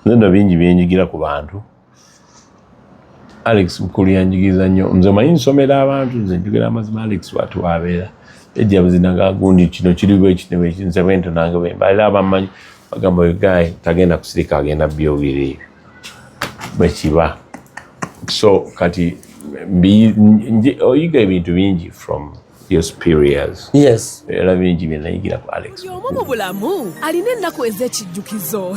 nenda bingi byenyigira ku bantu alex mukulu yanjigiriza nnyo nze manyi nsomera abantu nze njogera amazima alex watu wabeera ejja buzinaga gundi kino kiri bwekino bweki nze bwento nange bwemba era abamanyi bagamba oyo gaye tagenda kusirika agenda byogera ebyo bwekiba so kati oyiga ebintu bingi from your superiors yes era bingi bye nayigira ku alex omu mu bulamu alina ennaku ez'ekijjukizo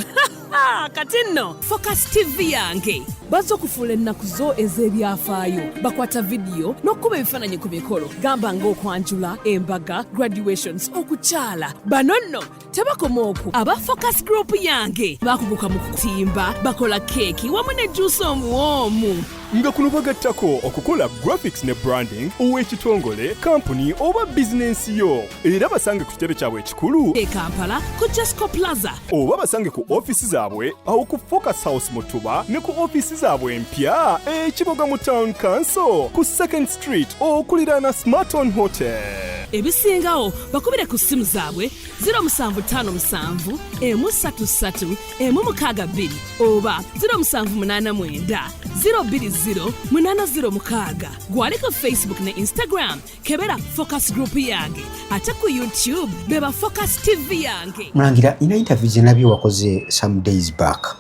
kati nno focus tv yange bazza okufuula ennaku zo ez'ebyafaayo bakwata vidiyo n'okukuba ebifaananyi ku mikolo gamba ng'okwanjula embaga graduations okukyala bano nno tebakoma oku aba focus group yange bakuguka mu kutimba bakola keeki wamu ne juusi omuwoomu nga kuno bagattako okukola graphics ne branding ow'ekitongole kampuni oba bizinensi yo era basange ku kitebe kyabwe ekikulu e kampala ku jesco plaza oba basange ku ofisi zaabwe awo ku focus house mutuba ne ku ofisi zaabwe empya ekiboga mu town council ku second street okuliraana smarton hotel ebisingawo bakubire ku ssimu zaabwe 0757 emu 33 emu 62 oba 0789 020 806 gwali ku facebook ne instagram kebera focus group yange ate ku youtube beba focus tv yange mulangira ina interview zenabye wakoze some days back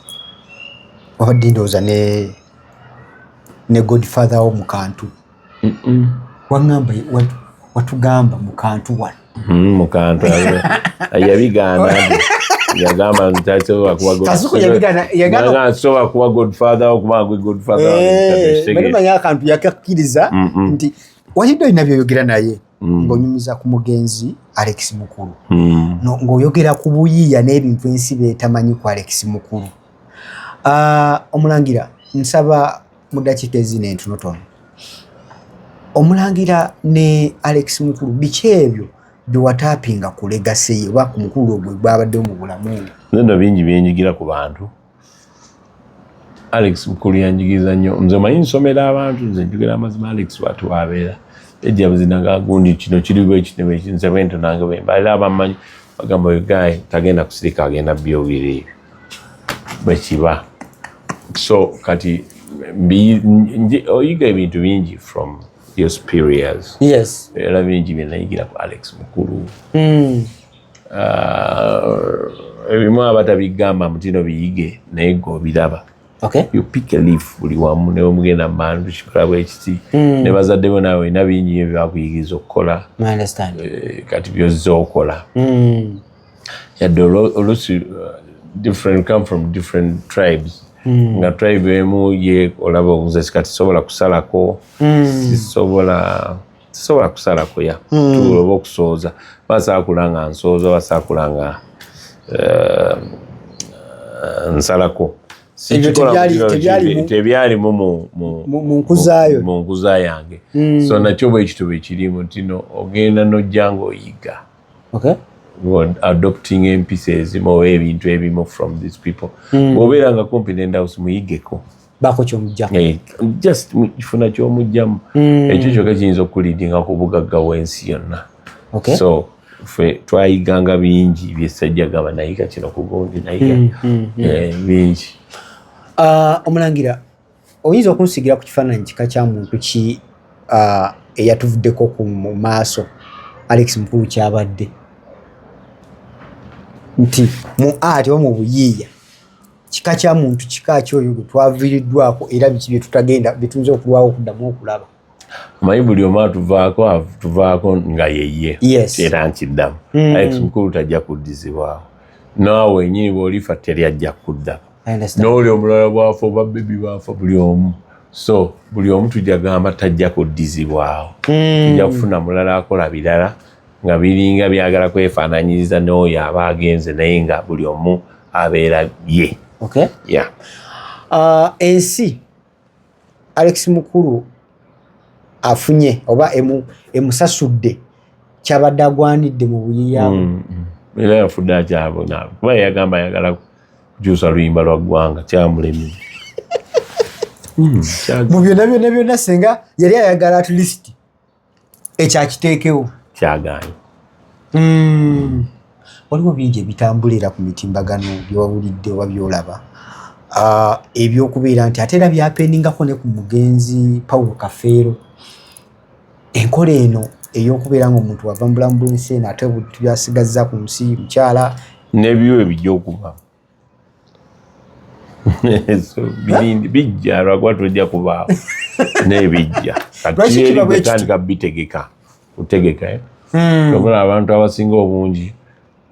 wabadde ndowooza ne ne godfather wo mukantu wangamba watugamba mukantu wano mm, mukantu yabigamba yagamba ntasobola kubasobola kuba godfather okuba gwe godfathermanyi eh, akantu yakakkiriza nti walidde olina byoyogera naye mm. ng'onyumiza ku mugenzi alex mukulu mm. ng'oyogera ku buyiiya n'ebintu ensi beetamanyi ku alex mukulu Uh, omulangira nsaba mu dakiika ezina entonotono omulangira ne alex mukulu biki ebyo byewatapinga ku legase ye oba ku mukulu ogwe gwabadde mu bulamu nenda bingi byenyigira ku bantu alex mukulu yanjigiriza nnyo nze omanyi nsomera abantu nze njogera amazima alex watu wabeera ejja buzinanga gundi kino kiri bwekitebe nze bwentonange bwembalira abamanyi bagamba oyo gayi tagenda kusirika agenda byobiri ebyo bwe kiba so kati oyiga ebintu bingi from your superiors yes era bingi bye nayigira ku alex mukulu mm. uh, ebimu abatabigamba mutino biyige naye gwe obiraba okay. you pick a leaf buli wamu ne omugenda mandu kikola bwekiti mm. ne bazadde bo nawe olina bingi byo byakuyigiriza okukola eh, kati byozza okola mm. yadde olusi uh, different come from different tribes mm. nga tribe emu ye olaba obuze kati sobola kusalako mm. sisobola sisobola kusalako ya mm. tuloba okusooza basaa kulanga nsooza basaa kulanga uh, uh, nsalako tebyalimu mu nkuza yange mm. so nakyo bwekituba ekirimu ntino ogenda nojja ngaoyiga okay adopting empisa ezimu oba ebintu ebimu from these people hmm. bwobeera nga kumpi nendawusi muyigeko bako kyomujjamu eh, just kifuna kyomujjamu hmm. ekyo kyoka kiyinza okukulidinga ku bugagga wensi yonna so fe twayiganga bingi byesajja gaba nayiga kino kugundi nayiga hmm, eh, bingi ah, omulangira oyinza okunsigira ku kifaananyi kika kya muntu ki eyatuvuddeko ku mu maaso alex mukulu kyabadde nti mu art oba mu buyiiya kika kya muntu kika ki oyo gwe twaviiriddwako era biki byetutagenda byetuyinza okulwawo okuddamu okulaba omanyi buli omu atuvaako atuvaako nga yeye era nkiddamu mm. alex mukulu tajja kuddizibwawo naawe wenyini bwolifa teri ajja kuddako nooli omulala bwafa oba bebi baafa buli omu so buli omu tujja gamba tajja kuddizibwawo mm. tujja kufuna mulala akola birala nga biringa byagala kwefaananyiriza n'oyo aba agenze naye nga buli omu abeera ye okay. yeah. uh, ensi alex mukulu afunye oba emusasudde emu kyabadde agwanidde mu buyiyabu mm, mm. era yafudde akyabonabo kuba yagamba ayagala kukyusa luyimba lwa ggwanga kyamulemi mm, mu byonna byonna byonna senga yali ayagala atleast ekyo akiteekewo kyagaanyi hmm. waliwo bingi ebitambula era ku mitimbagano byewawulidde oba byolaba ah, ebyokubeera nti ate era byapendingako ne ku mugenzi paulo kafeero enkola eno eyokubeera nga omuntu wava mu bulamu bwensi eno ate byasigaza ku nsi mukyala nebyo ebijja okuba bijja lwakuba tojja kubaawo naye bijja atandika bitegeka kutegeka eh? hmm. okola abantu abasinga obungi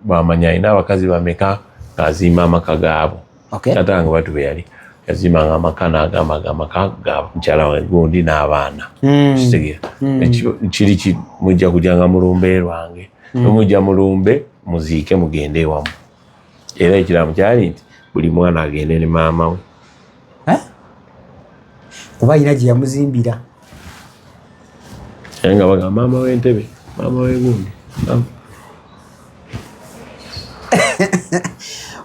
bamanya alina abakazi bameka ng'azimba amaka gaabo ate nga batu be yali yazimbanga amaka n'agamba nga amaka ga mukyala wange gundi n'abaana hmm. kitegeera hmm. kiri mujja kujanga mulumbe lwange nomujja mulumbe muziike mugende ewamu era ekiramu kyali nti buli mwana agende ne maama we eh? kuba alina gye yamuzimbira naye nga baga maama wentebe maama wegundi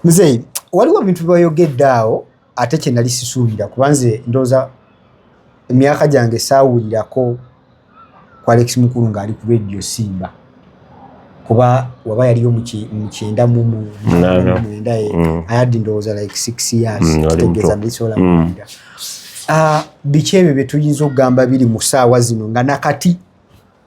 muzeeyi waliwo ebintu byoyogedde awo ate kye nali sisuubira kuba nze ndowooza emyaka gyange saawulirako ku alex mukulu ng'ali ku radio simba kuba waba yaliyo mu ki- mu kyenda mu mu- Na, na. mwenda eh, Mm. i had ndowooza like six years Mm, wali kitegeeza muto. ndisobola Mm. kuwulira. Ah, biki ebyo bye tuyinza okugamba biri mu ssaawa zino nga nakati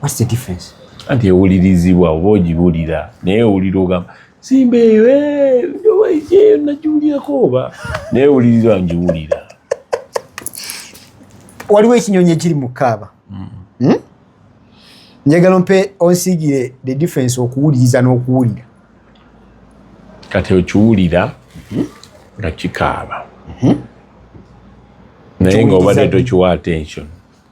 What's the difference? Anti ewulirizibwa oba ogibulira naye owulira ogamba simba eyo eyo nagiwulirako oba naye ewulirizibwa ngiwulira. Waliwo ekinyonyi ekiri mu kaaba hmm. hmm? njagala ompe onsigire the difference okuwuliriza n'okuwulira. Kati okiwulira hmm? nga kikaaba naye nga obadde tokiwa attention.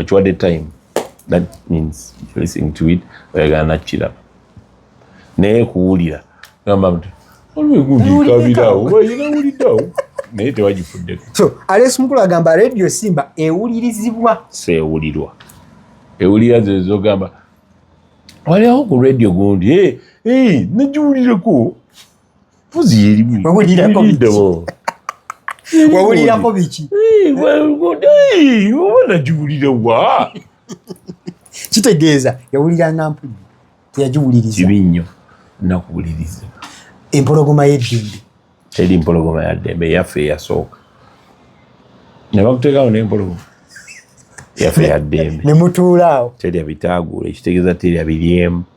okiwadde time that means listening to it oyagala nakiraba naye kuwulira gamba mti olwegundikabirawo bayina wuliddawo naye tewagifuddeko so alex mukulu agamba radio simba ewulirizibwa sewulirwa ewulira zezogamba waliawo ku radio gundi nagiwulireko wawulirako biki nagiwulira wa kitegeeza yawuliranga mpujju teyagiwuliriza kibi nnyo nakuwuliriza empologoma yeddembe teri mpologoma yaddembe yaffe eyasooka ne bakuteekawo n'empologoma yaffe yaddembe ne mutuulaawo terya bitaaguula ekitegeeza terya biryemu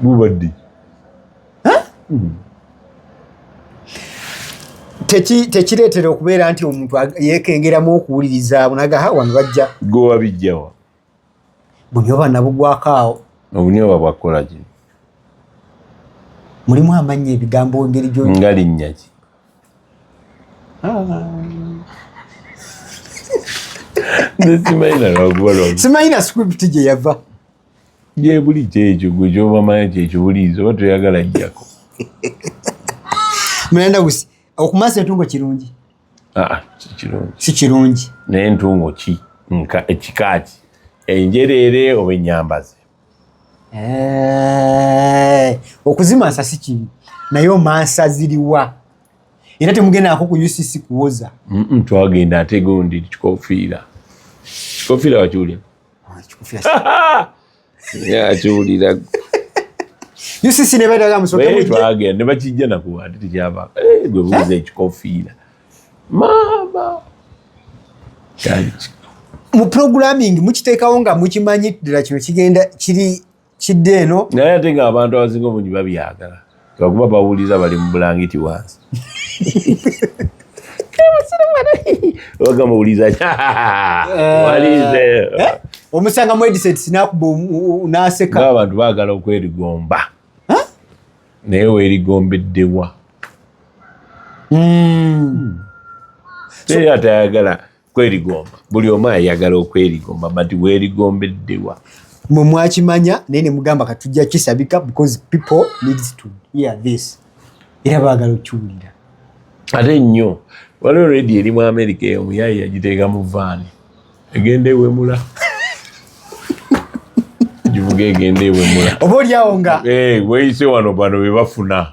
bubadde hmm. tekireetera okubeera nti omuntu yekengeramu okuwuliriza nagaha wano bajja gowa bijjawa bunyoba nabugwako awo obunyoba bwakukola ki mulimu amannya ebigambo engeri gyo nga linnya ki simanyi na script gye yava gyebuli kyekyo gwe kyobamanya kyekibuliiza oba toyagala jjako mulanda gusi okumansa entungo kirungi ah, si kirungi naye entungo ki ekikaaki enjereere oba enyambaze eh, okuzimansa si kibi naye omansa ziriwa era temugendako ku ucc kuwoza twagenda ate gundi kikofiira kikofiira wakiwulira akiwulira ucc nebadaga musotwaga ne bakijja nakuwa ati tekyava eh, gwe buuza ekikofiira maama mu programming mukiteekawo nga mukimanyi ddala kino kigenda kiri kidde eno naye ate nga abantu abasinga obungi babyagala lwakuba bawulira bali mu bulangiti wansi wagamawuliza omusanga mwediset nakuba naseka abantu bagala okwerigomba naye werigombeddebwa hmm. teyatayagala kwerigomba buli omu ayagala okwerigomba but werigombeddewa mwe mwakimanya naye nemugamba katujja kisabika because people needs to hear this era baagala okiwulira ate nnyo waliwo redi eri mu amerika eyo muyayi yagiteeka mu vaani egenda ewemula givuga egenda ewemula oba olyawo nga eh, weyise wano bano bebafuna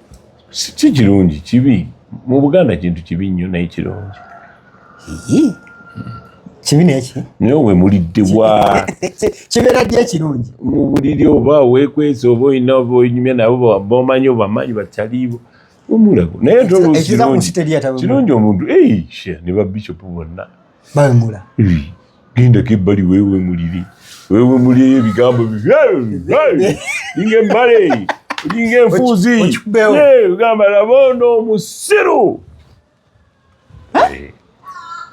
si kirungi kibi mu buganda kintu kibi nnyo naye kirungi kibi neki naye we mulidde wa kibeera ddi ekirungi mu buliri oba wekwesa oba olina oba onyumya nabo bomanyi obamanyi bataliibo omulago naye tolkirungi omuntu ne babishopu bonna bawemula hmm. genda kebbali wewe muliri wewe muliri ebigambo inga embale olinga enfuuzi ogamba labondo omusiru eh.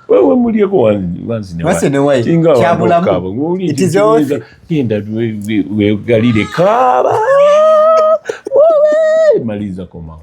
wewe mulyeko wanzinewakyabulamuingaolinda wegalire kaba maliza komawo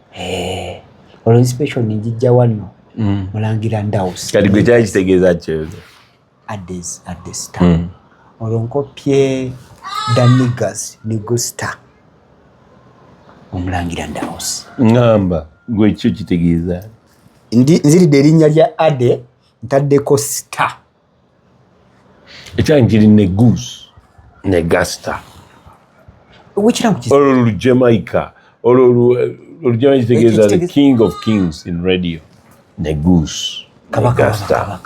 Eh, olwo inspiration njijja wanno mm. mulangira ndaus kati gwe kyali kitegeeza kyoza ades adesta mm. olwo nkopye danigas nigusta omulangira ndaus ngamba gwe kyo kitegeeza nziridde erinnya lya ade ntaddeko star ekyange kiri ne goose ne gasta olwo lu jamaica olwo lu jamaica kitegeeza the king of kings in radio ne goose ne gasta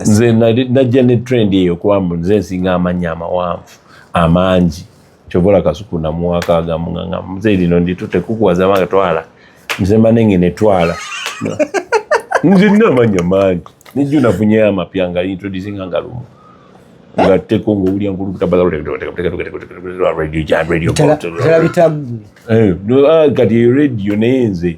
nze najja ne trend eyo kuba nze nsinga amanya amawanvu amangi kyovola kasuku namuwaka agamu nga mzee lino nditute kukuwaza manga twala mzee manenge ne twala nze nina amanya mangi nijjo nafunye amapya nga introducing nga lumu nga teko nga owulya nkulukutabagakati eyo rediyo naye nze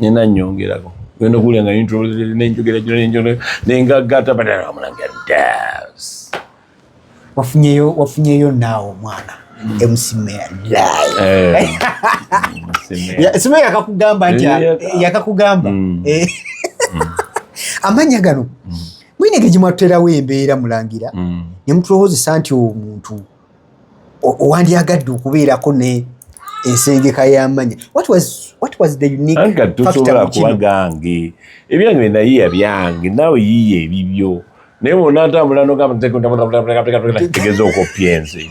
nina nyongerako genda okuwulira nga nenjogera gino nenjogera nengaggata badala omulange das wafunyeyo wafunyeyo naawe omwana emusimeya simeya yakakugamba nti yakakugamba amanya gano mwine ge gimwatuterawo embeera mulangira mm. ne mutulowozesa nti omuntu wandyagadde okubeerako ne ensengeka y'amanya tosobola kuba gange ebyange nayiya byange nawe yiya ebibyo naye wona ntambula nogategeza okoppya ensi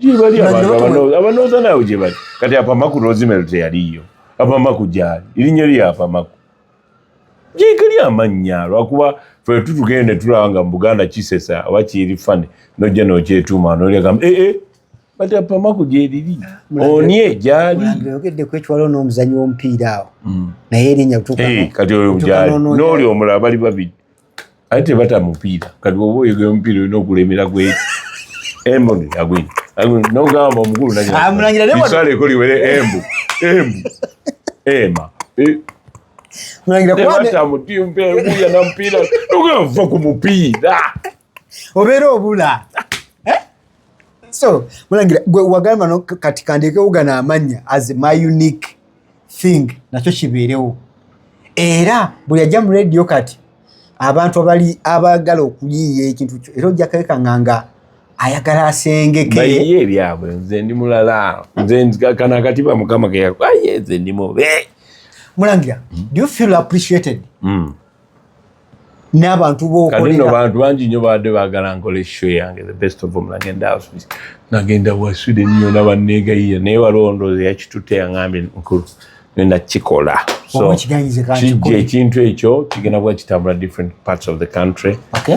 gyebali abanooza naawe gyebali kati apamaku rosemary teyaliyo apamaku gyali erinnya lyo apamaku gyekali amannya lwakuba fe tutugenda netulaba nga mu buganda kisesa oba kiri fane nojja nokyetuuma nolyagamba ee eh, eh, kati apamaku gyeriri onye gyaliogedde kwekiwaliwo n'omuzanyi w'omupiira awo mm. naye erinnya eh, kati oyo gyali n'oli omulala bali babiri ate tebata mupiira kati oba oyogera omupiira olina okulemera gwe embu agwini nogamba omukulu nayisala ekoli were embu embu ema tebata mutimpa embuya na mupiira ogava ku mupiira obeera obula so mulangira gwe wagamba no kati kandekewo gana amanya as my unique thing nakyo kibeerewo era buli ajja mu radio kati abantu abali abagala okuyiiya ekintu kyo era ojja kekanga nga ayagala asengekeye ebyabwe nze ndi mulala nze kana katiba mukama keyakuaye nze ndi mube mulangira do you feel appreciated mm. n'abantu bokolera bantu bangi nyo baadde baagala nkola esho yange the best of them nagenda house nagenda wa Sweden nyo nabanneegayiya naye waliwo ndowooza yakitutte yangambye nkulu nenda kikola so kijja ekintu ekyo kigenda kuba kitambula different parts of the country okay.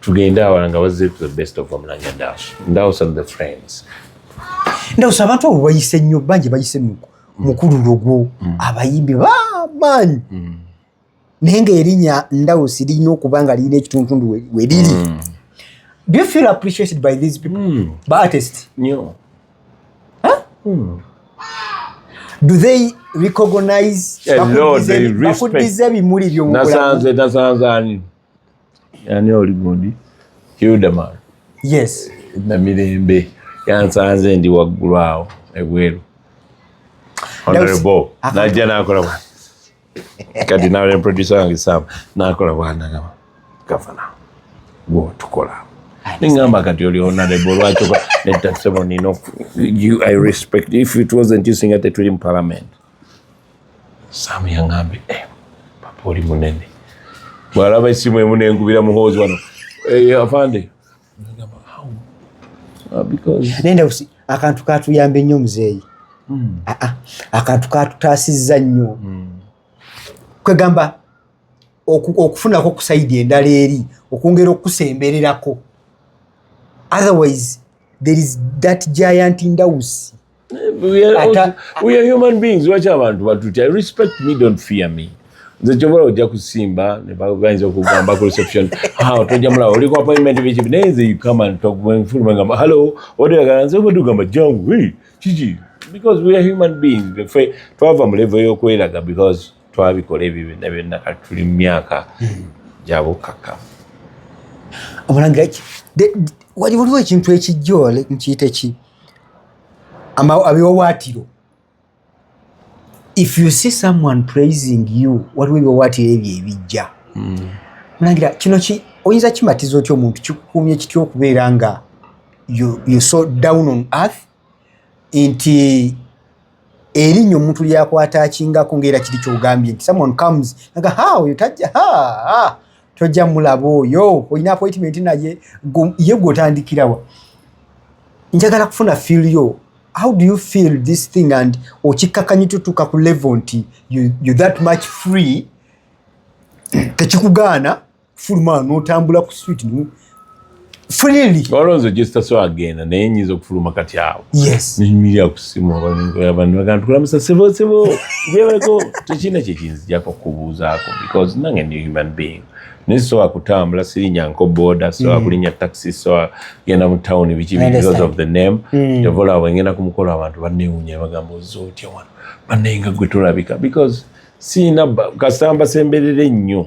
tugende awala nga bazze to the best of omulanya dash ndawusa the friends ndawusa abantu abo bayise nnyo bangi bayise mm. mukululo gwo mm. abayimbi bamaanyi mm. naye nga erinya ndawusi lirina okuba nga lirina ekituntundu weriri do you feel appreciated by these people mm. by artist nyo huh? mm. do they recognize bakuddiza ebimuli byomugulamu nasanze nasanze ani yani oli gundi hildaman yes namirembe yansanze ndi waggulu awo ebweru honorable najja nakola bwa kati nawe ne producer wange sam nakola bwanagaba gavana gwotukola ningamba kati oli honorable lwaki netasebo nino i respect if it wasn't you singa tetuli mu parliament Sam yang'ambye eh, papa oli munene bwalaba essimu emu nenkubira muhoozi wano eh, afande ah, nenda akantu katuyambye nnyo muzeeyi hmm. ah, ah, akantu katutaasizza nnyo hmm. kwegamba okufunako okusaidi endala eri okwongera okukusembererako otherwise there is that giant ndawusi We are, Ata, we are human beings lwaki abantu batutya respect me don't fear me nze kyobola ojja kusimba bayinza okugamba ku reception tojja mulaba oli ku appointment biki naye nze you come and talk when full mangamba hello odagala nze obadugamba jangu hey kiki because we are human beings fe twava mu level y'okweraga because twabikola ebyo byonna byonna kati tuli mu myaka hmm. gyabukaka omulangira waliwo ekintu ekijja nkiyita ki abiwawaatiro if you see someone praising you waliwo ebiwawaatiro ebyo ebijja hmm. mulangira kino ki oyinza kimatiza otya omuntu kikukuumye kitya okubeera nga you, you so down on earth nti erinnya omuntu lyakwata akingako ngaera kiri kyogambye nti someone comes aga ha oyo tajja ha tojja mulaba oyo olina appointment naye ye gwotandikirawa njagala kufuna feel yo how do you feel this thing and okikkakanyi tutuuka ku level nti you, you that much free tekikugaana kufuluma notambula ku street no freely olonzo just so agenda naye nyiza okufuluma kati awo yes nyimirira ku simu abantu bagamba tukulamusa sebo sebo yebako tekina kyekinzijako kubuuzaako because nange ndi human being naye sowa kutambula sirinya nko boda sowa mm. kulinya taxi sowa genda mu town biki because of the name mm. tovola awo ngenda ku mukolo abantu bannewunya bagamba oza otya wano bannaye nga gwe tolabika because sirina kasamba semberere nnyo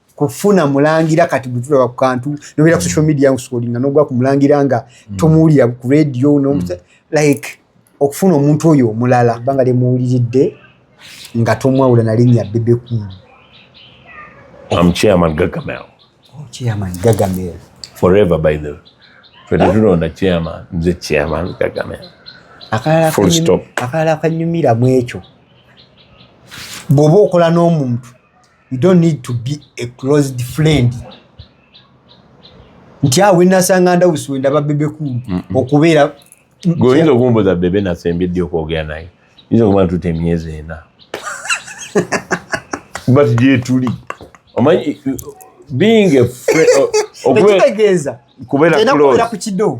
kufuna mulangira kati butulaba ku kantu nobeera ku social media nkusukolinga nogwa ku mulangira nga mm. tomuwulira ku radio mm. like okufuna omuntu oyo omulala banga lyemuwuliridde nga tomwawula nalinnya bebe kulu akalala akanyumira mwekyo bwoba okola n'omuntu you don't need to be a closed friend nti awo wenasanga ndawusi wendaba bebe kulu okubeera goyinza okumbuza bebe nasembedde okwogera naye yinza okuba ntuta emyezi ena but gyetuli omanyi being a friend okubeera kubeera kukido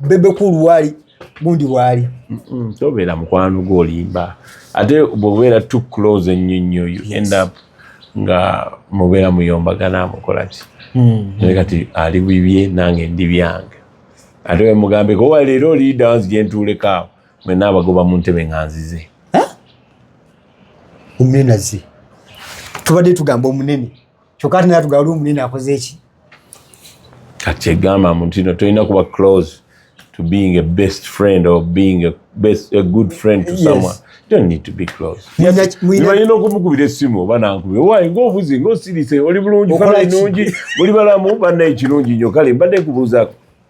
bebe kulu wali gundi wali tobeera mukwano gwo olimba ate bwobeera too close ennyo nnyo you end up nga mubeera muyombagana mukola ki hmm. naye kati ali bibye nange ndi byange ate wemugambe kowa leero oliida wanzi gyentuulekaawo mwena abagoba mu ntebe nga nzize omunenazi tubadde tugamba omunene kyokka ate naye tugala omunene akoze ki kati egamba mu ntino tolina kuba close to being a best friend or being a, best, a good friend to yes. someone don't need to be close nibalina okumukubira essimu oba nankubira waye ngaobuzi ngaosirise oli bulungi fala enungi oli balamu banna ekirungi nyo kale mbadde kubuuzako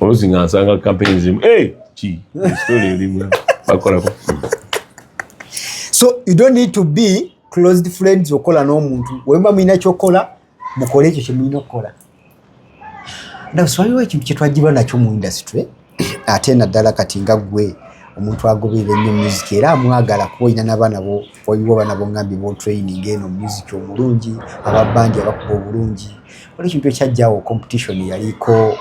olusi nga nsanga kampeyini zimu ki story erimu bakolako so you don't need to be closed friends okola n'omuntu wemba mulina kyokola mukole ekyo kyemulina okukola ndabasiwaliwo ekintu kyetwajibwa nakyo mu industry ate naddala kati nga ggwe omuntu agoberera ennyo music era amwagala kuba olina nabaana bo waliwo abaana bongambye botraining eno music omulungi ababandi abakuba obulungi oli ekintu ekyajjawo competition yaliko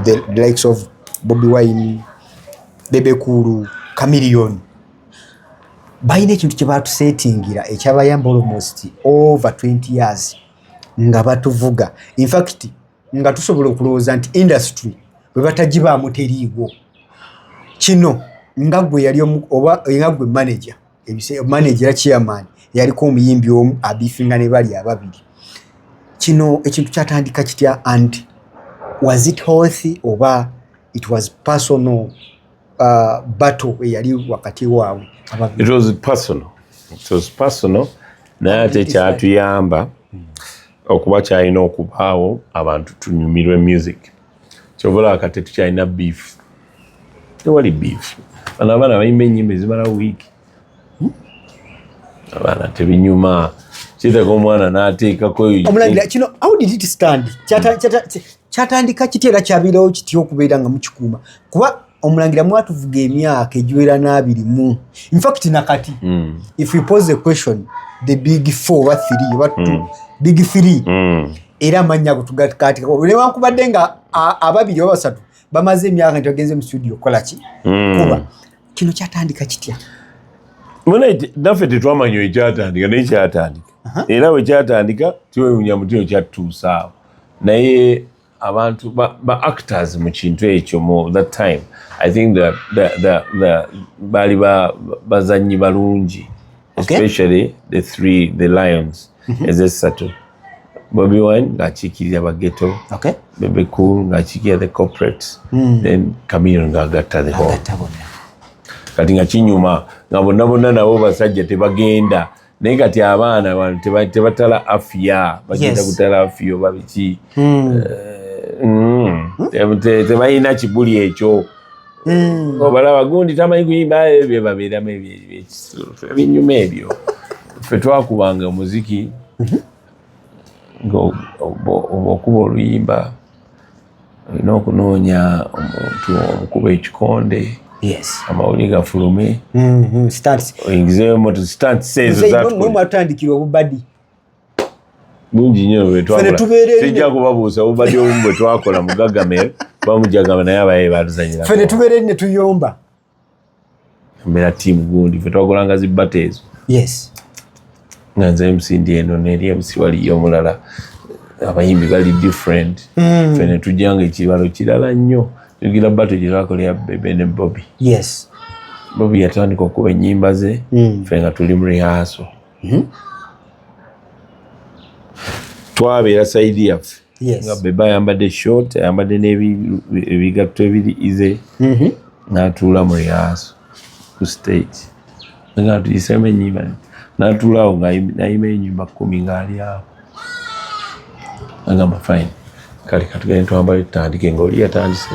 the likes of bobi wine bebekulu camilion balina ekintu kyebatusetingira ekyabayamba almost over 20 years nga batuvuga infact nga tusobola okulowooza nti industry bwe batagibaamu teriiwo kino nga gwe yali oba nga gwe manager manager era chairman yaliko omuyimbi omu abifinga ne bali ababiri kino ekintu kyatandika kitya and was it healthy oba it was personal uh, battle eyali wakati waabwe it was personal it was personal naye ate kyatuyamba okuba kyalina okubaawo abantu tunyumirwe music kyobola kati tukyalina beef tewali beef bano abaana bayimba enyimba ezimala wiiki hmm? abaana tebinyuma kiteka omwana nateekako omulangira kino how did it stand kyatandika kitya era kyabeerawo kitya okubeera nga mukikuuma kuba omulangira mwatuvuga emyaka egiwera n'abiri mu infact nakati hmm. if you pose a question the big four oba three oba two hmm. big three hmm. era amannya ago tugakatikako newankubadde nga ababiri oba basatu bamaze emyaka nti bagenze mu studio okukola ki kuba kino kyatandika kitya naffe tetwamanya oyo kyatandika naye kyatandika era bwe kyatandika twewunya muti oyo kyatutuusaawo naye abantu ba actors mu kintu ekyo mu that time i think baali bazannyi balungi okay? especially the three the lions mm -hmm. ezessatu Bobby Wine ng'akiikirira bageto okay. Bebe Cool ng'akiikirira the corporate mm. then Chameleone ng'agatta the whole kati nga kinyuma nga bonna bonna nabo basajja tebagenda naye kati abaana bantu tebatala afiya bagenda kutala afiya oba biki hmm. eh, hmm. hmm. tebalina kibuli ekyo hmm. obalaba gundi tamanyi kuyimba ebyo byebabeeramu ebinyuma ebyo ffe twakubanga omuziki mhm. ngaokuba oluyimba olina okunoonya omuntu omukuba ekikonde amawulire gafulume mhm, oyingizeyo moto stansi ezo zatandikira obubadi mungi nyo bwetwatija kubabuusa obubadi obumu bwetwakola mugagame bamujagama naye abaye baluzanyira fe netubeera eri netuyomba mbeera tiimu gundi fe twagolanga zibbata ezo yes nga nze emusindi eno neri emusi waliyo omulala abayimbi bali different mm. fe netujanga ekibalo kirala nnyo tugira bato gyetwakolera bebe ne bobi yes bobi yatandika okuba enyimba ze mm. fe nga tuli mu rehearsal hmm? twabeera saidi yaffe nga beba ayambadde short ayambadde n'ebigatto ebiri ize mm-hmm. natuula mu riyaaso ku stage nga tuyisemu enyimba natuulaawo nayima enyumba kumi ngaali awo agamba fine kale katugende twambale tutandike ngaoli yatandise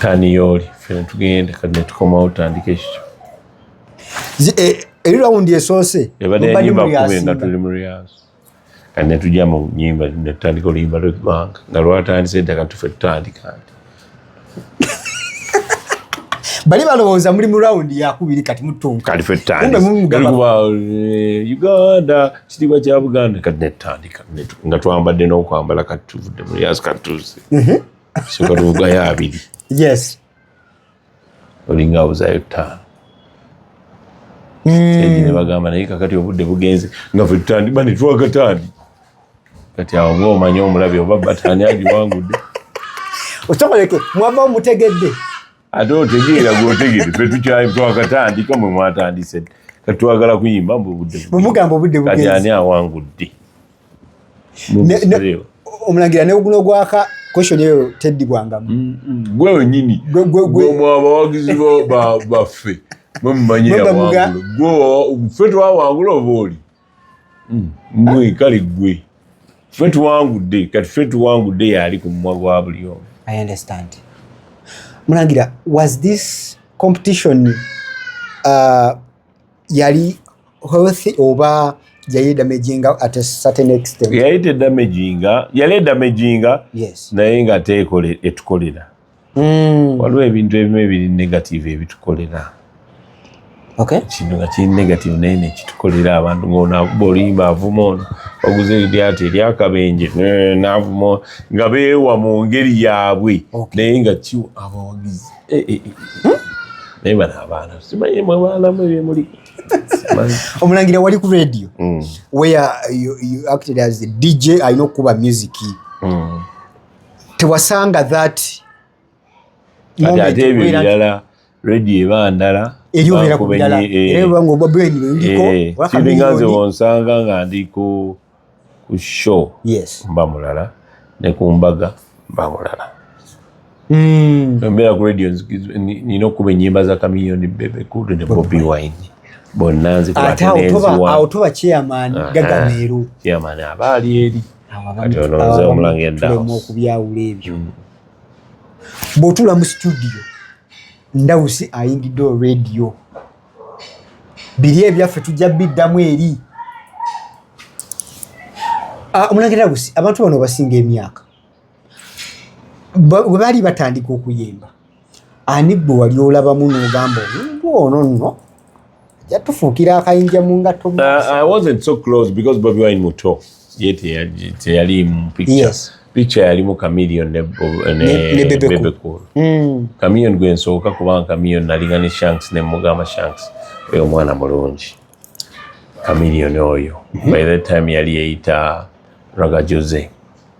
taniyooli fena tugenda kati netukomawo tutandika ekikyo eh, eri rawundi esoose ebadde yanyimba kumi nga tuli mu riyaaso kati netujja mu nyimba netutandika oluyimba lweggwanga nga lwatandise edda kati tufe tutandika nti bali balowooza muli mu rawundi yakubiri kati mutunkakalifutanikuba eh, uganda kitiibwa kya buganda kati netutandika nga twambadde n'okwambala kati tuvudde mu riyaaso kati tuzi mhm. soka tuvugayo abiri yes olinga abuzayo ttaano hmm. nebagamba naye kakati obudde bugenze nga fe tutandiba netwakataani kati awo nga omanye omulabi oba batani agiwangudde okyakoleke mwava mutegedde ate otegeera gwotegere fe tukyayi twakatandika mwe mwatandise kati twagala kuyimba mbu obudde bumugamba obudde kati ani awangudde omulangira neguno gwaka question eyo teddibwangamu mm, mm. gwe wenyini gwemwe abawagizi baffe mwe mumanyi yawangula gwe fe twawangula oba oli mwe hmm. kale gwe ffe tuwangudde kati ffe tuwangudde yaali ku mumwa gwa buli omu i understand mulangira was this competition uh, yali healthy oba yali edamaginga at a certain extent yali edamaginga yali edamaginga yes naye nga teekola etukolera mm. waliwo ebintu ebimu ebiri negative ebitukolera okay. kintu nga kiri negative naye nekitukolera abantu ngaolimba avuma ono oguze eryati eryakabenje navuma nga beewa mu ngeri yaabwe okay. naye nga kiwa abawagizi eh, eh, eh. hmm? naye bano abaana simanyi mwe baalamu ebyemuli omulangira wali ku radio mm. where you, you acted as a dj alina okukuba music mm. tewasanga that ebilala redi eba ndala eriobera ku birala eh. era banga ogwa brain ndiko eh. siringanze wonsanga nga ndi ku ku show yes mba mulala ne ku mbaga mba mulala mm mbera ku radio nino kuba enyimba za kamiyoni bebe kudu ne bobi wine bonna nzikwatenezi wa ate awo tuba chairman ah, gagameeru ah. chairman abaali eri tulemu okubyawula ebyo mm. bw'otula mu situdiyo ndawusi ayingidde olwediyo biri ebyaffe tujja biddamu eri ah, omulangira ndawusi abantu bano basinga emyaka bwe baali batandika okuyimba ani gwe wali olabamu n'ogamba omuntu ono nno yatufuukira akayinja mu ngatto teyali mu picha yalimu kamilion ne bebe cool mm. kamilion gwe nsooka kubanga kamilion nalinga ne shanks ne mugamba shanks oyo omwana mulungi kamilion oyo mm-hmm. by that time yali yeyita raga jose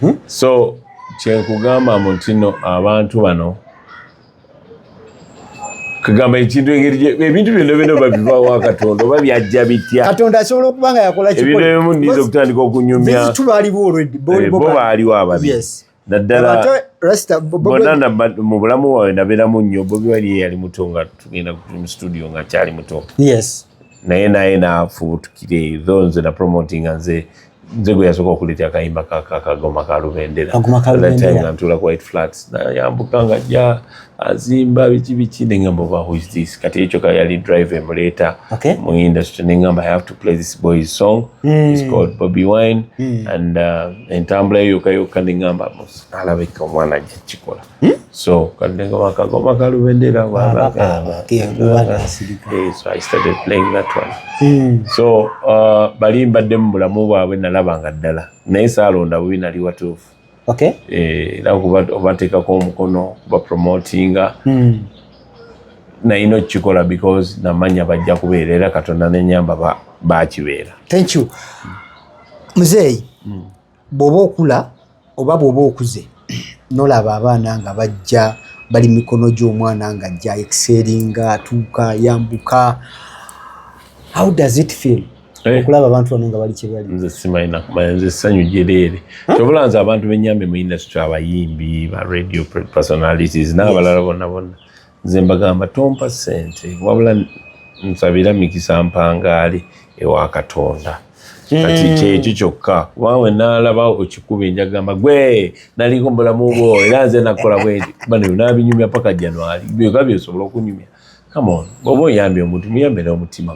hmm? so kyenkugamba mu ntino abantu bano kugamba ekintu engeri ebintu byonna byona babivawa katonda oba byajja bitya katonda asobola okuba nga yakola ebintu ebimu niza okutandika okunyumyabo baaliwo eh, ababi naddala bona mu bulamu wawe nabeeramu nnyo bobi wali yeyali muto nga tugenda mu studio nga kyali muto naye naye nafubutukire tho nze napromotinga nze nze gwe yasooka okuleeta akayimba kakagoma ka lubendera nga ntuula ku white flats nayambuka nga ja azimba biki biki nengamba oba whois this kati ekyo ka yali drive emuleeta mu industry nengamba i have to play this boy's song mm. is called bobby wine mm. and uh, entambula yo yokka yokka nengamba alabika omwana ajja kukikola Hmm? So kalinga wakagoma kalubendera wabagamba. Yeah, eh, so I started playing that one. Mm. So uh, bali mbadde mu bulamu bwabwe nalaba nga ddala naye saalonda bubi nali watuufu. Okay. Eh, era obateekako omukono bapromotinga mm. nayina okukikola because namanya bajja kubeera era katonda nenyamba bakibeera. Thank you. Muzeeyi. Mm. bw'oba okula oba bw'oba okuze nolaba abaana nga bajja bali mikono gy'omwana nga ajja ekiseeringa atuuka yambuka how does it feel eh. okulaba abantu bano nga bali kyebali nze simalina kumanya nze ssanyu gyereere kyobula nze abantu benyambe mu industry abayimbi ba radio personalities n'abalala bonna bonna nze mbagamba tompa sente wabula nsabira mikisa mpangaali ewa katonda kati hmm. kyekyo kyokka kuba we nalaba okikuba enjagamba gwe naliko mubulamu bwo era nze nakola bweti bano nabinyumya paka januari byoka byosobola okunyumya kamono bwoba oyambye omuntu muyambe n'omutima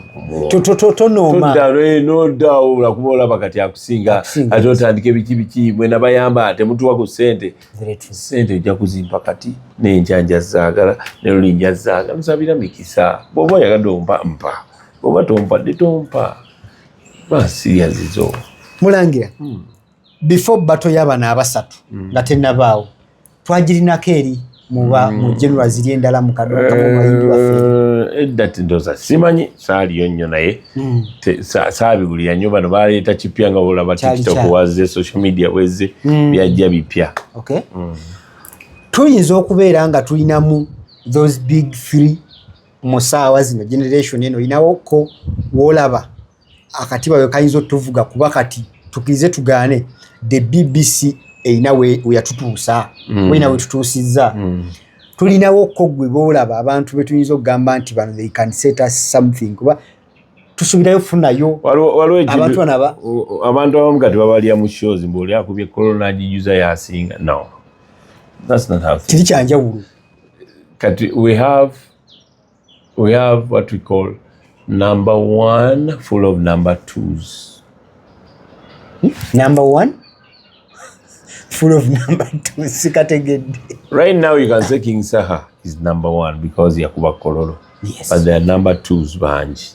gumutoddawo olakuba olaba kati akusinga ate otandika ebiki biki mwenabayamba temutuwa ku sente sente ojja kuzimpa kati nenjanja zaagala nelulinja zaagala nsabira mikisa bwoba oyagadde ompa mpa bwoba tompadde tompa basirya zizo mulangira hmm. before bato y'abana abasatu hmm. nga tenabaawo twagirinako eri muba hmm. mu general ziri endala mu kaduka mu mayindi waffe eh, edda tindoza simanyi saaliyo nnyo naye hmm. saabiwulira nnyo bano baleeta kipya nga olaba tiktok wazze social media bwezze hmm. byajja bipya hmm. tuyinza okubeera nga tulinamu those big three mu saawa zino generation eno olinawoko wolaba akatiba we kayinza otuvuga kuba kati tukirize tugaane the bbc erina weyatutuusa mm. weyina wetutuusizza mm. tulinawo ko gwe bolaba abantu betuyinza okugamba nti bano they can set us something kuba tusubirayo funayo abantu anaba abantu abamu kati babalya mu shows mbu oli akubye corona agijuza yasinga no that's not how kiri kyanjawulo kati we have We have what we call number one full of number twos. Number one full of number two sikategedde right now you can say king saha is number one because yakuba kololo yes. but there are number twos bangi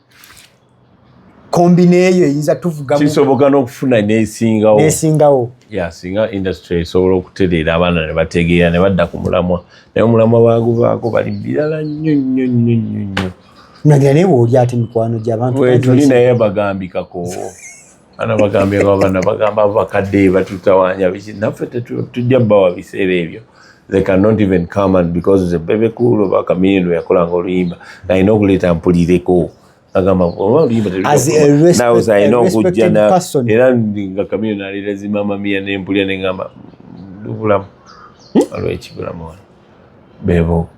kombi neeyo eyinza tuvuga kisoboka n'okufuna nesingawo nesingawo ya singa industry esobola okutereera abaana ne bategeera ne badda ku mulamwa naye omulamwa baguvaako bali birala nnyo nnyo nnyo nnyo nnyo nagira naye wooli ate mikwano gy'abantu wetuli naye bagambikakoowo ana bagambye babana bagamba abakadde batutawanya biki naffe tetujja bawa biseera ebyo they cannot even come and because the baby cool oba kamiyendo yakolanga oluyimba nalina okuleeta mpulireko agamba oba oluyimba telunawoza alina okujja era nga kamiyendo naleeta zimama miya nempulira nengamba lubulamu hmm? olwekibulamu wano bebo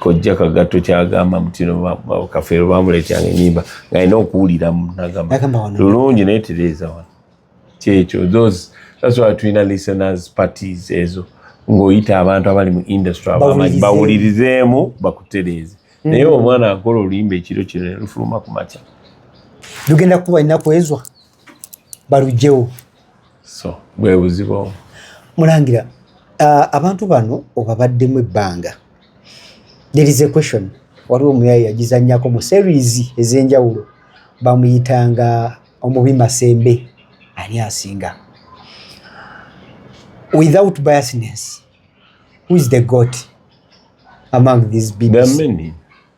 kojja kagatto kyagamba mutino kafeero bamuleetyanga enyimba ngalina okuwuliramu nagamba lulungi naye tereeza wano kyekyo those that's why tulina listeners parties ezo ng'oyita abantu abali mu industry abamanyi bawulirizeemu bakutereeze mm. naye omwana akola oluyimba ekiro kino nelufuluma ku makya lugenda kuba ennaku ezwa balugyewo so bwebuzibu mulangira uh, abantu bano obabaddemu ebbanga there is a question waliwo omuyayi yagizanyako mu series ez'enjawulo bamuyitanga omubi masembe ani asinga without biasness who is the goat among these bibs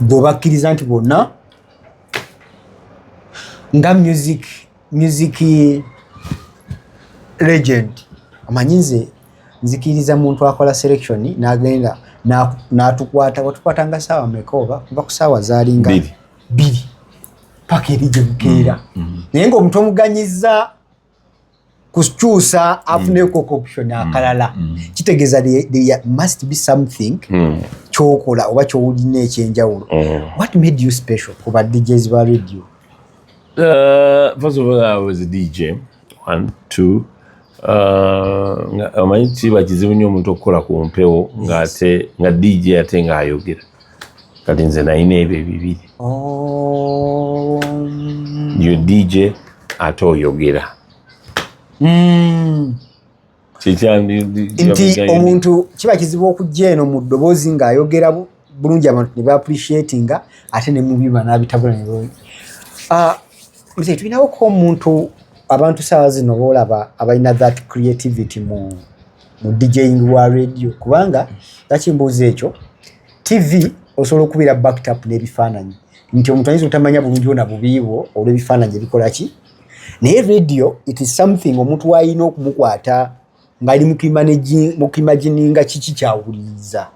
bwe bakkiriza nti bwonna nga music music legend amanyi nze nzikiriza muntu akola selection nagenda natukwata watukwata nga saawa meka oba kuva ku saawa zalinga biri paka eri gyebukeera mm, mm. naye nga omuntu omuganyiza kukyusa afuneko mm. option mm. akalala mm. kitegeeza there must be something kyokola oba kyowulina ekyenjawulo what made you special ku ba djs ba radio uh, first of all i was a dj one two uh, omanyi kiba kizibu nnyo omuntu okukola ku mpewo ngaate nga dj ate ngaayogera kati nze nalina ebyo ebibiri oh. yo dj ate oyogera hmm. nti omuntu kiba kizibu okujja eno mu ddoboozi ng'ayogera bulungi abantu ne baapurishiatinga ate ne mubiba n'abitabula ne ah, mzee tulinawo ko omuntu abantu saawa zino boolaba abalina that creativity mu mu djing wa radio kubanga laki mbuuza ekyo tv osobola okubeera backtap n'ebifaananyi nti omuntu ayinza otamanya bulungi bona bubiibwo olw'ebifaananyi ebikolaki naye radio it is something omuntu waalina okumukwata ngaali mukimagininga kiki kyawuliriza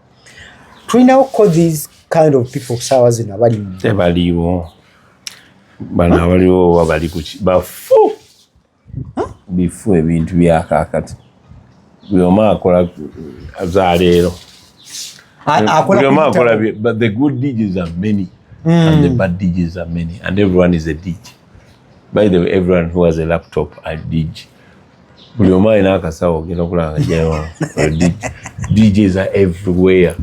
tulinawo ko these kind of people saawa zino abalimu tebaliwo bano abaliwo oba bali kuki bafu bifu ebintu byakakati buli omu akola zaleero buli omu akola but the good digits are many mm. and the hmm. bad digits are many and everyone is a dig by the way everyone who has a laptop are dig buli omu alina akasawo ogenda okulanga jayo djs are everywhere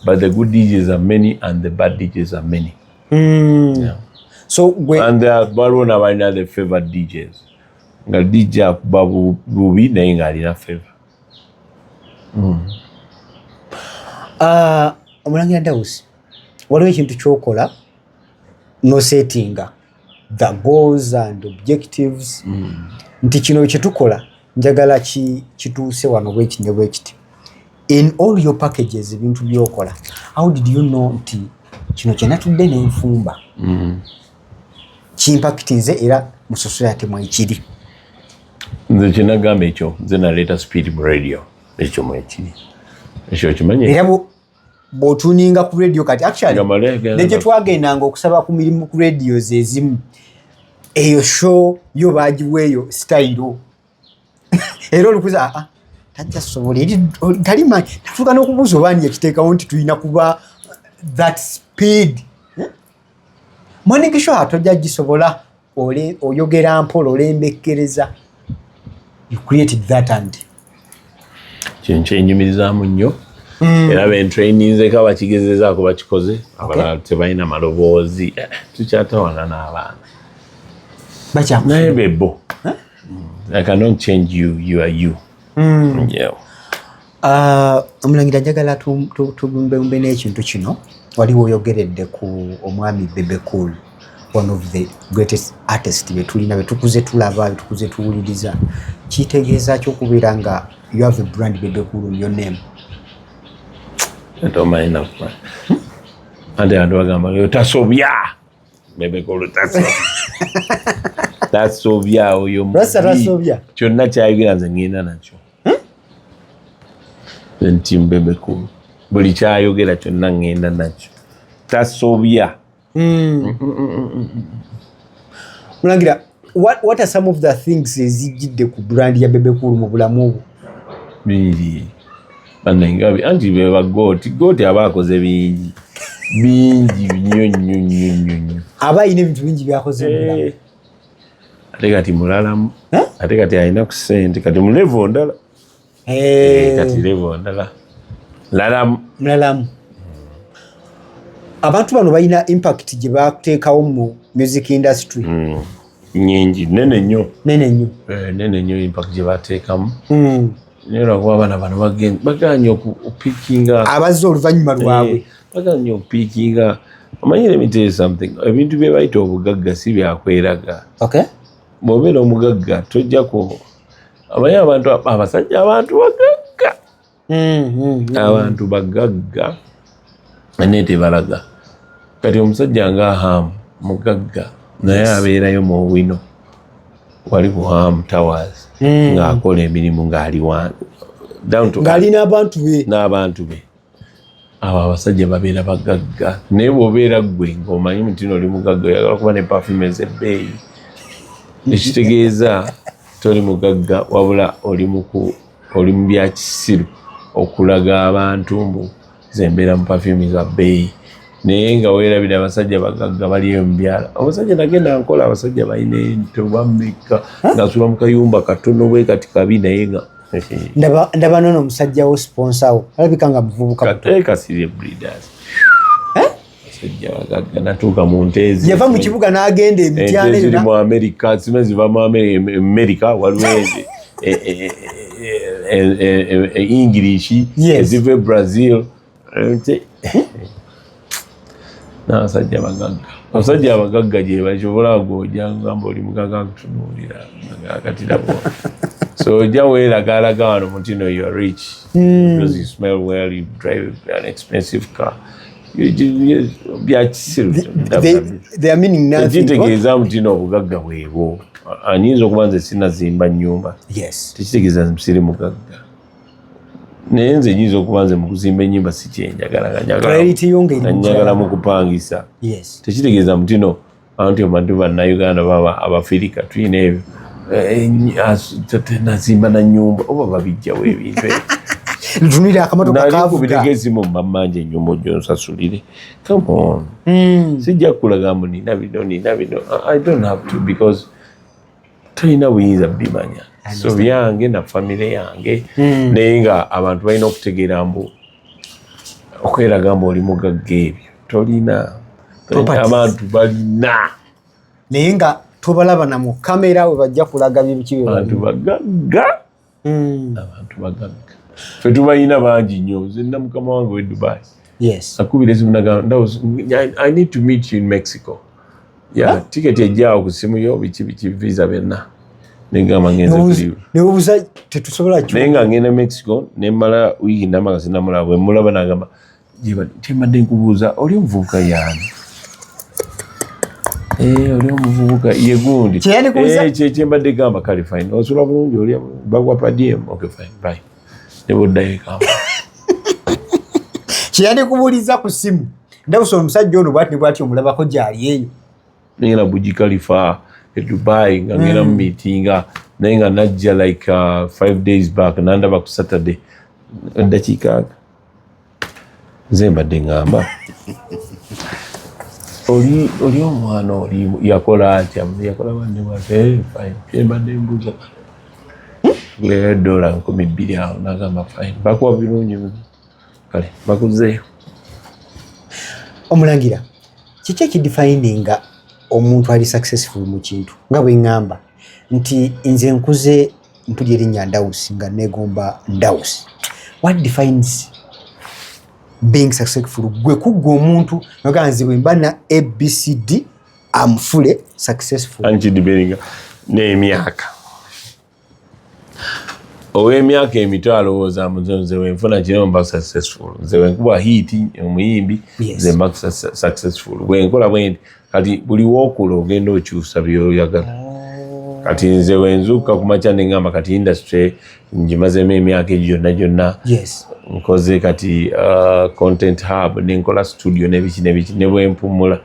but the good djs are many and the bad djs are many mm. yeah. so gwe and there are baro na bana the favor DJs nga DJ akuba bubi naye nga alina favor mm. uh, omulangira Dawusi waliwo ekintu kyokola no settinga the goals and objectives mm. nti kino kyetukola njagala ki kituuse wano bwekiti ne bwekiti in all your packages ebintu byokola how did you know nti kino kyenatudde nenfumba mm. kimpakiti nze era musosola yate mwekiri nze kyenagamba ekyo nze naleeta speed mu radio ekyo mwekiri ekyo kimanyi era bwotuninga ku radio kati actually ne gye twagendanga okusaba ku mirimu ku radio zezimu eyo show yo bagiweeyo sitayiro era olukuza aa ah, ah, tajja sobola eri tali manyi natuuka n'okubuuza oba ani yakiteekawo nti tulina kuba that speed eh? mwaniki show atojja gisobola oyogera mpola olembekkereza you created that and kintu kyenyumirizaamu nnyo mm. era bentraininzeko abakigezezaako bakikoze abalala tebalina maloboozi eh, tukyatawana n'abaana naye bebo i cannot change you you are you mm. yeah. Ah, omulangira njagala tugumbeumbe n'ekintu kino waliwo oyogeredde ku omwami bebecool one of the greatest artist betulina betukuze tulaba betukuze tuwuliriza kitegeeza ki okubeera nga you have a brand bebecool in your name ate abantu bagamba otasobya bebecool tasobya tasobya oyo kyonna kyayogera nze ngenda nakyo hmm? nti mbebekulu buli kyayogera kyonna ŋŋenda nakyo tasobya hmm. mulangira what, what are some of the things ezijjidde ku brand ya bebekulu mu bulamu obwo bingi banengabi anti beba gooti gooti aba akoze bingi bingi nnyo nnyo nnyo nnyo aba alina ebintu bingi byakoze mu bulamu eh. ate kati mulalamu ate kati alina ku sente kati mulevo ndala eh. Eh, kati levo ndala lalamu mulalamu abantu bano balina impact gye bateekawo mu music industry hmm. nyingi nene nnyo nene nnyo eh, nene nnyo impact gye bateekamu hmm. naye lwakuba abaana bano baganye okupikinga abazze oluvannyuma lwabwe Baga nyo pikinga. Amanyi let me tell you something. Ebintu bye bayita obugagga si bya kweraga. Okay. Bw'obeera omugagga tojja ku amanyi abantu abasajja abantu bagagga. Mm, mm, mm. Abantu bagagga naye tebalaga. Kati omusajja nga Hamu mugagga naye abeerayo mu wino wali ku Hamu Towers mm. ng'akola emirimu ng'ali wange. Ng'ali n'abantu be. N'abantu be. abo abasajja babeera bagagga naye bwobeera ggwe ngaomanyi mutino oli mugagga oyagala kuba ne pafume zebbeeyi ekitegeeza toli mugagga wabula oli mu byakisiru okulaga abantu mbu zembeera mu pafume za bbeeyi naye nga werabira abasajja bagagga baliyo mubyala omusajja nagenda nkola abasajja balina ento bamekka ngasula mukayumba katono bwekati kabi naye nga ndaba ndaba nono omusajja wo sponsor wo alabika nga muvubuka eh, kasirye breeders eh? natuuka mu nteezi yava mu kibuga n'agenda emityana ziri mu amerika zima ziva mu amerika waliwo e, e, e, english eziva e brazil n'abasajja bagagga abasajja abagagga gye bakyobola agoja ngamba oli mugaga nkutunuulira agakatirabo so ojja weeragaalaga wano mutino you are rich hmm. because you smell well you drive an expensive car byakisiruekitegeeza mutino obugagga bwebwo anyinza okuba nze sinazimba nyumba tekitegeeza nti siri mugagga naye nze nyinza okuba nze mukuzimba enyumba sikyenjagalanyagala mukupangisa tekitegeeza mutino anti omanti banauganda baba abafirika tuyina ebyo eh, eh, nazimba nanyumba oba babijjawo ebintu ntuniraakamotokakubitegezi mu mamanja enyumba ojonsasulire comeon hmm. sijja kulaga mbu nina bino nina bino i don't have to because tolina buyinza bimanya so byange na famire yange hmm. naye nga abantu balina okutegeera mbu okweraga mbu oli mugagga ebyo tolina abantu balina naye nga tobalaba na mukamera we bajja kulaga bibiki abantu bagagga mm. abantu bagabika fe tubalina bangi nnyo nze nna mukama wange we dubai yes. akubira esimu nagamba i need to meet you in mexico ya yeah, tiketi ejjaawo ku simu yo biki biki visa byonna nengamba ngenzebuza tetusobola naye nga ngenda mexico nemmala wiiki namagasi namulaba bwemulaba nagamba kyembadde nkubuuza oli omuvubuka yaani eh, oli omuvubuka yegundi eh, kyembadde gamba kale fine osula bulungi oli bagwapadm okay fine bye neboddayo ekamba kyeyandikubuuliza ku simu ndabusa omusajja ono bwati nebwati omulabako gyali eyo nengenda bujikalifa edubai nga ngenda hmm. mumitinga naye nga najja like uh, five days back nandaba ku saturday eddakiika nga nze mbadde ŋŋamba oli omwana oli yakola atya yakola banne bwatembadde eh, mbuza leero dola nkumi bbiri awo nagamba fine bakuwa birungi kale bakuzeeyo omulangira kiki ekidifayininga omuntu ali successful mu kintu nga bwe ŋŋamba nti nze nkuze mpulira erinnya ndawusi nga negomba ndawusi what defines being successful gwe kuggwa omuntu noga nze bwe mba na abcd amfule successful ankidiberinga n'emyaka ow'emyaka emito alowooza muzo nze wenfuna kino mba successful nze wenkuba hiiti omuyimbi nze mba successful bwenkola bwendi kati buli wokula ogenda okyusa byoyagala oh. kati nze wenzuuka kumakya nengamba kati industry ngimazemu emyaka egyo gyonna gyonna nkoze kati uh, content hub nenkola studio nebiki nebiki nebwempumula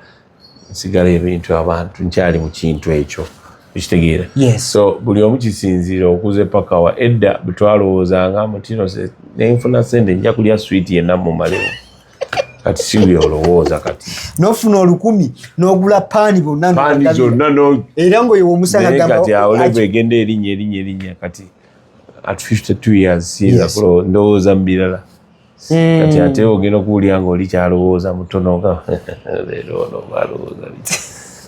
nsigala ebintu abantu nkyali mu kintu ekyo ekitegeera so buli omu kisinziira okuze pakawa edda bwetwalowoozanga mutino nenfuna sente nja kulya switi yenna mumalewo kati sibi olowooza kati nofuna olukumi nogula paani bonna zonna era ngoyo womusangakati awoleva egenda erinya erinya erinya kati at 52 years siyinza kulo ndowooza mu birala hmm. kati ate ogenda okuwulira nga oli kyalowooza mutono nga leero ono balowooza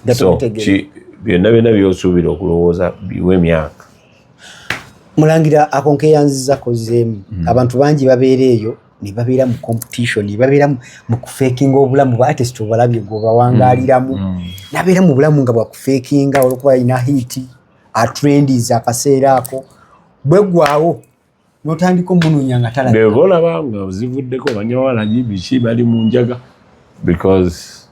biki byonna byonna byosuubira okulowooza biwe emyaka mulangira akonkeyanziza kozeemu hmm. abantu bangi babeera eyo nebabeera mu competition nebabeera mu kufekinga obulamu batest obalabye gwebawangaliramu mm, mm. nabeera mu bulamu nga bwakufekinga olwokuba alina hiiti atrendiz akaseera ako bwegwawo notandika omunonya nga talabika olaba nga ozivuddeko banyawalagi biki bali mu njaga because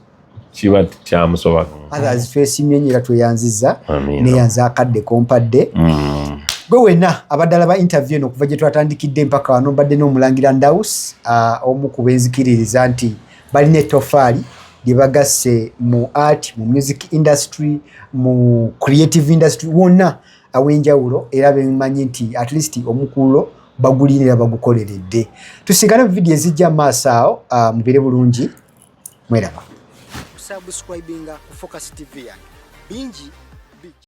kiba kyamusoba others face myenyera tweyanziza neyanza akadde kompadde mm. gwe wena abaddala ba interview eno okuva gyetwatandikidde mpaka wano mbadde n'omulangira ndaus uh, omu ku benzikiririza nti balina etofaali lyebagasse mu art mu music industry mu creative industry wonna awenjawulo era bemanyi nti at least omukululo bagulinira bagukoleredde tusigale mu vidiyo ezijja maaso awo uh, mubire bulungi mweraba kusubscribinga ku focus tv yange bingi